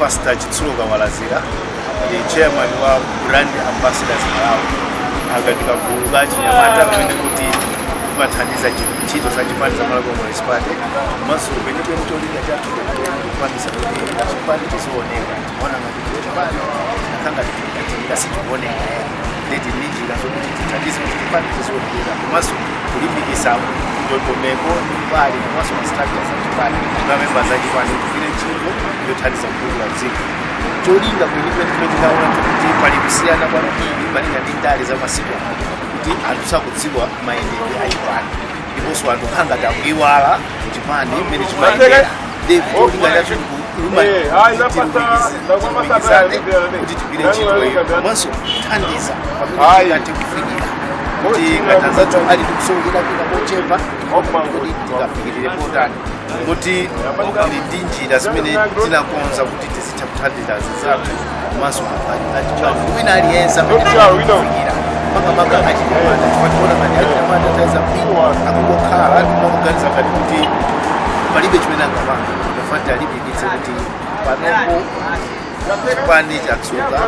Pastor Chitsulo Kawalazira ndi chairman wa Brand Ambassadors Malawi ngati kagulu ka achinyamata kamene kuti kamathandiza chi- ntchito za chipani za Malawi Congress Party komanso kwenikweni cholinga chathu ndikupangitsa kuti chipani chiziwoneka timaona ngati kuti chipani chikukhala ngati sichikuoneka nde tili ndi njira zokuti tithandize kuti chipani chiziwonekera komanso kulimbikitsa ndondomeko ndi mbali komanso ma structures a chipani na memba za chipani tigwire ntchito yothandiza kutukula dziko cholinga kwenikweni chimene tidaona kuti pali kusiyana kwambiri malinga ndi ndale za masiku ano kuti anthu sakudziwa mayendedwe a chipani ndiponso anthu akukhala ngati akuiwala chipani mmene chimayendera ndi cholinga chathu kuluma tilumikizane kuti tigwire ntchito iyo komanso kuthandiza pamene tingathe kufikira kuti ngati anzathu ali ndi kusowekera kwina kochepa kuti tingafikire potani moti tili ndi njira zimene tinakonza kuti tizi tha kuthandiza anzathu komanso mafaji wina aliyense amene tikufikira makamaka achinyamata chifukwa taona ngati achinyamata ataya mtima akungokhala akumaganiza ngati kuti palibe chimene angapange tofuna tiwalimbikitse kuti panopo chipani chadzuka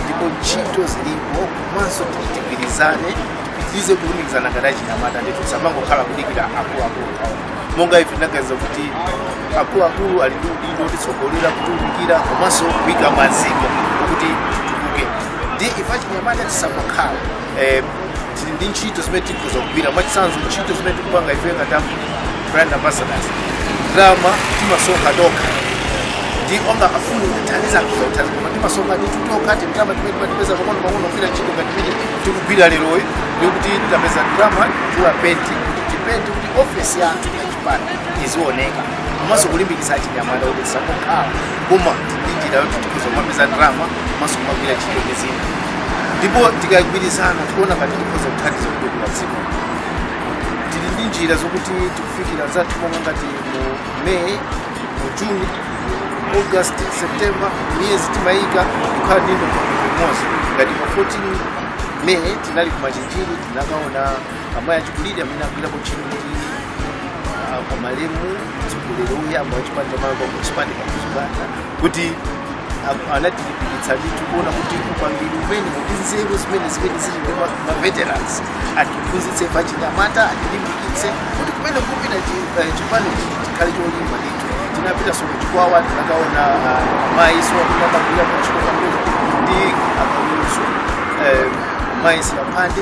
ndipo ntchito zilipo komanso kuti tigwirizane tipitirize kulumikizana ngati achinyamata ndithu tisamangokhala kudikira akuluakulu monga ife tinaganiza kuti akuluakulu ali ndi udindo otitsogolera kutiunikira komanso kuika maziko kuti titukuke ndi ife achinyamata tisangokhala eh, tili ndi ntchito zimene tikhoza kugwira mwachitsanzo ntchito zimene tikupanga ife ngati a brand ambassadors ndalama timasonkha tokha ndi ena ofuna kuthandiza akhoza kuthandiza koma timasonkha ndithu tokha tindalama timene timatipeza pang'ono pang'ono kugwira ntchito ngati imene tikugwira leroyi ndikuti tapeza ndalama kugula penti kuti tipente kuti ofesi yathu ya chipani izioneka komanso kulimbikitsa achinyamata kuti tisangokhala koma tili ndi njira yoti tikhoza kumapeza ndalama komanso kumagwira ntchito ndi zina ndipo tikagwirizana tikuona ngati tikhoza kuthandiza kutukula dziko tili ndi njira zokuti tikufikira anzathu monga ngati mu may mu june august september mwezi timayika kukhala ndi ndondomeko imodzi ngati pa 14 may tinali ku machinjiri tinakaona amayi achikulire amene agwirapo ntchito kuti ah, kwa malemu mtsogoleri woyamba wachipani cha malawi congress party kamuzu banda kuti a- anatilimbikitsa ndithu kuona kuti upangiri umene ndi nzeru zimene zimene zili ndi ma- ma veterans atiphunzitse achinyamata atilimbikitse kuti kumene tikupita chi- eh, chipani chiti chikhale cholimba ndithu tinapitanso ku chikwawa tinakaona mayinso amene anagwira ntchito kamuzu ndi akamuzu mayi silaphande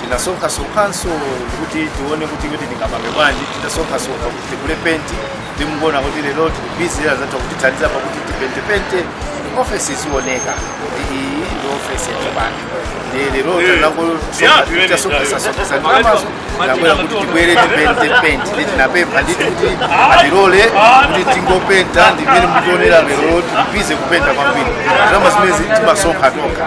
tinasonkhasonkhanso kuti tione kuti kuti tingapange bwanji tinasonkhasonkha kuti tigule penti ndi mukuona kuti lero tili bizi azatha kutithandiza pakuti tipentepente ofesi izioneka kuti iyi ndi ofesi ya chipani ndi lero tanangosonkhasonkhasonkhasonkha ndalamazo nabwera kuti tibwere tipente penti ndi tinapempha ndithu kuti atilole kuti tingopenta ndi mmene mukuonera lero tili bizi kupenta kwambiri ndalama zimene timasonkha tokha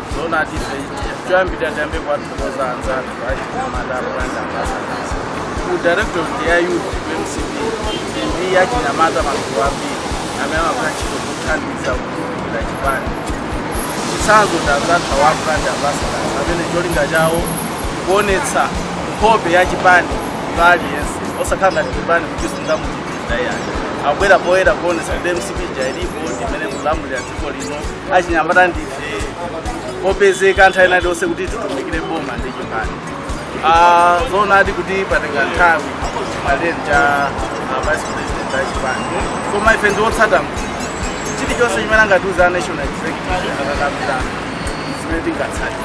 zoonadi ife choyambirira tiyambe kuwathokoza anzathu achinyamata brand ambassador ku directorate ya youth ku mcp ndi achinyamata magulu ambiri amene amagwira ntchito kuthandiza kutumikira chipani chitsanzo cha anzathu awa brand ambassadors amene cholinga chawo kuonetsa nkhope ya chipani kwa aliyense osakhala ngati chipani kuchisunga muchipinda iyayi abwera poyera kuonetsa kuti mcp ilipo ndimene ikulamulira dziko lino achinyamata ndi opezeka nthawi ina iliyonse kuti titumikire boma ndi chipani Ah, zoonadi kuti patenga nthawi malere cha ah, vice president a chipani koma ife ndi otsata mkulu chilichonse chimene angatiuza national executive akakambirana zimene tingatsate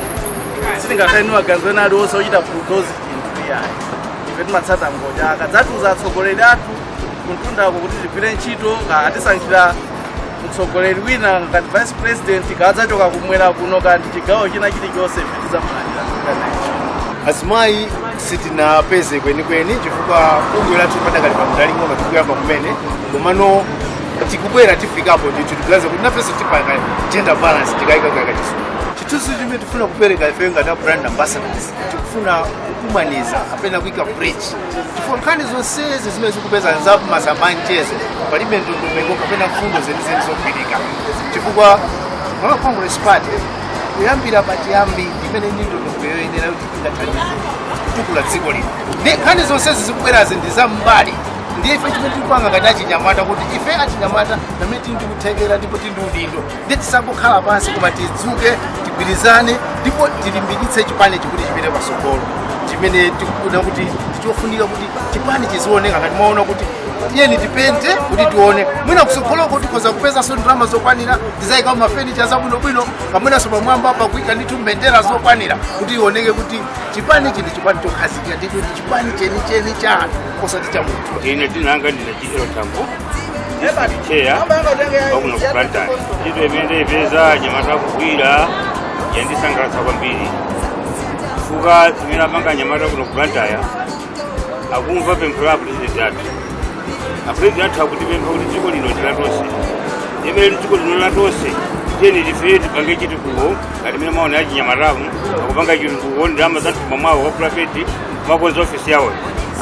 sitingakhale ni maganizo ena aliwonse ochita bulldoze chinthu iyayi ife timatsata ngodya akadzatiuza atsogoleri athu kumtundako kuti tigwire ntchito kaya atisankhira mtsogoleri wina ngati vice president kaya adzachoka kumwera kuno kaya ndi chigawo china chilichonse tizamulandira azimayi sitinapeze kwenikweni chifukwa bungwe lathu padakali pamunda waung'ono tikuyamba kumene komano tikubwera tifikapo ndithu tikuyaza kuti nafenso tipanga gender balance tikayika kuyaka chisumu chithunzi chimene tifuna kupereka ife ngati a brand ambassadors tikufuna kukumaniza kapena kuika bridge chifukwa nkhani zonsezi zimene zikupeza nzapa masamba a mchezo palibe ndondomeko kapena mfundo zenizeni zogwirika chifukwa malawi congress party kuyambira pachiyambi imene ili ndi ndondomeko yoyenera kuti ingathandize kutukula dziko lino ndi nkhani zonsezi zikubwerazi ndi zam'mbali ndiye ife chimene tikupanga ngati achinyamata kuti ife achinyamata pamene tili ndikuthekera ndipo tili ndi udindo ndi tisangokhala pansi koma tidzuke tigwirizane ndipo tilimbikitse chipani chikuti chipite patsogolo chimene tikufuna kuti ndichofunika kuti chipani chizioneka ngati mwaona kuti tiyeni tipente kuti tione mwina kutsogoloko tikhoza kupezanso ndalama zokwanira tizayika mafenicha zabwinobwino pamenenso pamwamba pakuika ndithu mbendera zokwanira kuti ioneke kuti chipani chili chipani chokhazikika ndithu ndi chipani chenicheni cha anthu osati cha munthu ine dzina langa ndine chidiro chambo cheya wakuno ku plantani ntchito imene ndayipeza anyamata akugwira yandisangalatsa kwambiri chifukwa zimene apanga anyamata kuno ku Blantyre akumva pempho la apulezidenti athu apulezidenti athu akutipempha kuti dziko lino ndi latonse ndiye mmene dziko lino ndi latonse tiyeni tife tipange chitukuko ngati mmene mwaonera achinyamatamu akupanga chitukuko ndi ndalama za mthumba mwawo wa pulayiveti kumakonza ofisi yawoyo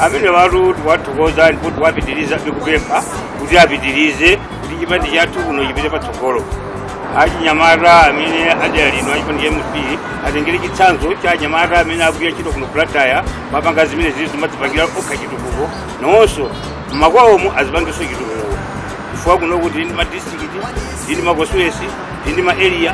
amene watu tiwathokoza ndipo tiwapitiriza tikupempha kuti apitirize kuti chipani chathu kuno chipite patsogolo achinyamata amene adera lino achipani cha MCP atengere chitsanzo cha anyamata amene akugwira ntchito kuno ku Blantyre akumapanga zimene zili zomadzipangira okha chitukuko nawonso mmakwawomo azipangenso chitukuko chifukwa kuno kuli ndi madistrikiti ndi makonsitichuwensi ndi maeriya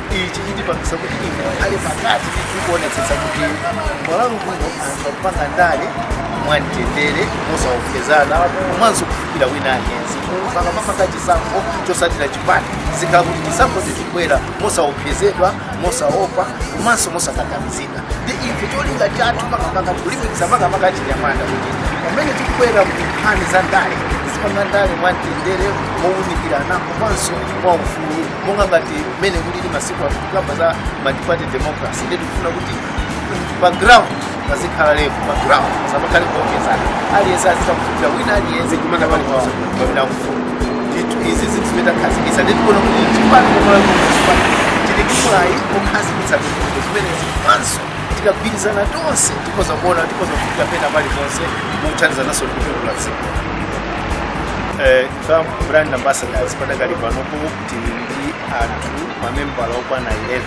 ichi chitipangisa kuti ife a ndale pakati tikuonetsetsa kuti malawi kuno anthu akupanga ndale mwamtendere mosaopsezana komanso kufikira wina aliyense akamapanga chisankho chotsatira chipani zizikhala kuti chisankho chizibwera mosaopsezedwa mosaopa komanso mosakakamizika ndi ife cholinga chathu makamaka kulimbikitsa makamaka achinyamata kuti pamene akubwera mu nkhani za ndale azipanga ndale mwamtendere mowunikirana komanso mwaufulu monga ngati mmene kulili masiku ano tikukamba za multiparty democracy ndiye tikufuna kuti pa ground pazikhala level pa ground pasamakhale kuopsezana aliyense azitha kufikira wina aliyense kumene ali kwawo pamene akufuna ndithu izi ndi zinthu zimene takhazikitsa ndi tikuona kuti chipani ngati chipani tili ndi mwayi okhazikitsa ndondomeko zimenezi komanso tikagwirizana tonse tikhoza kuona tikhoza kufikira pena paliponse mokuthandizananso ndikutukula dziko Eh, Some brand ambassadors padakali panopo tili ndi anthu mamembala okwana 11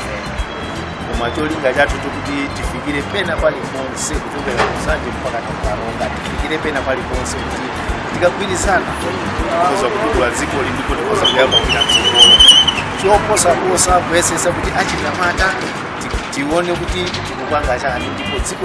koma cholinga chathu ndi chokuti tifikire pena paliponse kuchokera ku Nsanje mpaka ku Karonga tifikire pena paliponse kuti tikagwirizana tikhoza kutukula dzikoli ndipo likhoza kuyamba kupita mtsogolo choposaposa kuyesetsa kuti achinyamata ti- tione kuti tikupanga chani ndipo dziko